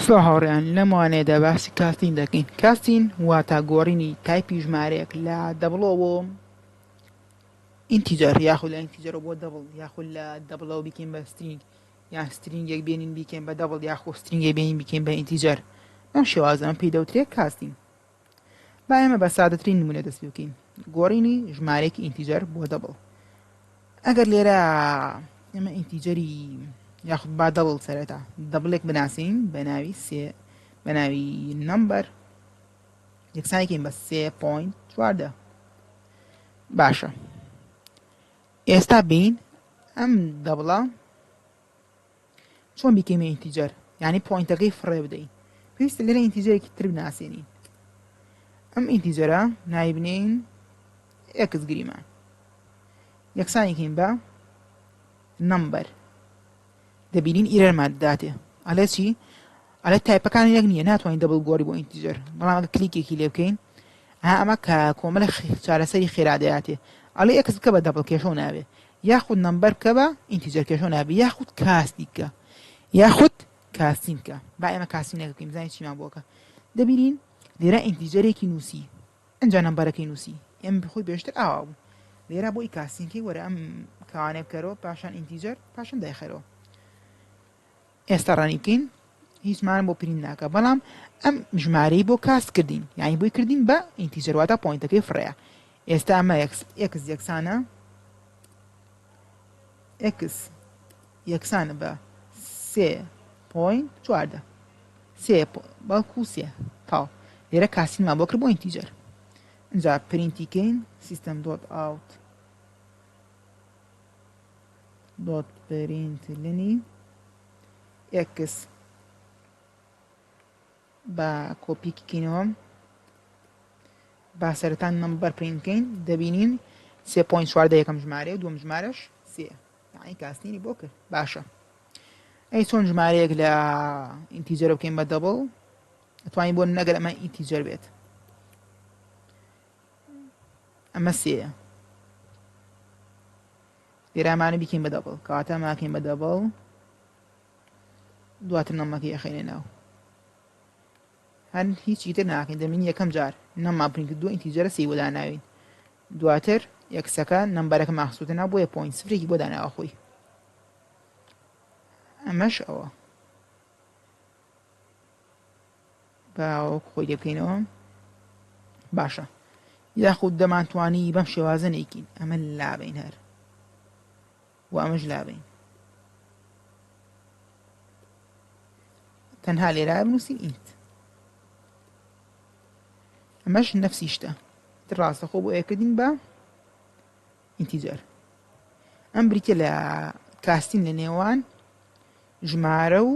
سڵاو هاوڕێیان لەم وانەیەدا باسی کاستین دەکەین کاستین واتا گۆڕینی تایپی ژمارەیەک لە دەبڵەوە بۆ ئینتیجەر یاخود لە ئینتیجەرەوە بۆ دەبڵ یاخود لە دەبڵەوە بیکەین بە سترینگ یان سترینگێک بێنین بیکەین بە دەبڵ یاخۆ سترینگێک بێنین بیکەین بە ئینتیجەر ئەم شێوازە ئەم پێی دەوترێت کاستین با ئێمە بە سادەترین نموونە دەست پێ بکەین گۆڕینی ژمارەیەکی ئینتیجەر بۆ دەبڵ ئەگەر لێرە ئێمە ئینتیجەری یاخود با دەبڵ سەرەتا دەبلێک بناسین بە ناوی سێ بە ناوی نمبەر یەکسانێکین بە سێ پوین چواردە باشە ئێستا بین ئەم دەبڵە چۆن بیکەینە ئینتیجەر یعنی پۆینتەکەی فڕێ بدەین پێویستە لێرە ئینتیجەرێکی تر بناسێنین ئەم ئینتیجەرە نایبنین ئێکس گریمان یەکسانێکین بە نمبەر دەبینین ئیرەرمان داتێ ئەلێ چی ئەلێ تایپەکان یەک نییە ناتوانین دەبڵ گۆری بۆ ئینتیجەر بەڵام ئەگە کلیکێکی لێ بکەین ئەمە کە کۆمەلە چارەسەری خێرادەاتێ ئەلێ ئەکس بکە بە دەبڵ کێشەوە ناوێ یاخود نەمبەر بکە بە ئینتیجەر کێشەو نابی یاخود کاستی بکە یاخود کاستین بکە با ئێمە کاسینەکە بکەین بزانین چیمان بۆکە دەبینین لێرە ئینتیجەرێکی نووسی ئەجا نەمبەرەکەی نووسی ئێمە بخۆی بێشتر ئاوا بوو لێرە بۆی کاسینکەی وەرە ئەم کاوانێ بکەرەوە پاشان ئینتیجەر پاشان دایخەرەوە ئێستا ڕەنی بکەین هیچمان بۆ پرینت ناکا بەڵام ئەم ژمارەی بۆ کاست کردین یعنی بۆی کردین بە ئینتیجەر واتا پۆینتەکەی فڕەیە ئێستا ئەمە ئێکس یەکسانە ئێکس یەکسانە بە سێ پۆین چواردە سێ بەڵکو سێ تاو لێرە کاسینمان بۆ کرد بۆ ئینتیجەر اینجا پرینتی کەین سیستم دۆت ئاوت دۆت پرینت لینی ئێکس با کۆپی کینەوە با سەرەتا نمبەر پرینت کەین دەبینین سێ پوین چواردە یەکەم ژمارە و دوم ژمارەش سێ یعنی کاسنیری بۆ کرد باشە ئەی چۆن ژمارەیەک لە ئینتیجەرە بکەین بە دەبڵ ئەتوانین بۆ نەگەر ئەمە ئینتیجەر بێت ئەمە سێە لێرە ئەمانە بیکەین بە دەبڵ کەواتە ئەماکەین بە دەبڵ دواتر نەمەکەی ئەخینە ناو هەند هیچی تر ناکەین دەمین یەکەم جار نەما پرینت دو ئینتیجەرە سی وەدا ناوین دواتر یەکسەکە نەمبەرەکە ماخسوتە نا بۆیە پوین سفرێکی بۆ داناوە خۆی ئەمەش ئەوە با وەکو خۆی لێبکەینەوە باشە یاخود دەمانتوانی بەم شێوازە نیکین ئەمە لابین هەر و ئەمەش لابین تەنها لێرا بنووسین ئینت ئەمەش نفسی شتە ڕاستە خۆ بۆ ئەکردین بە ئینتیجەر ئەم بریتە لە کاستین لە نێوان ژمارە و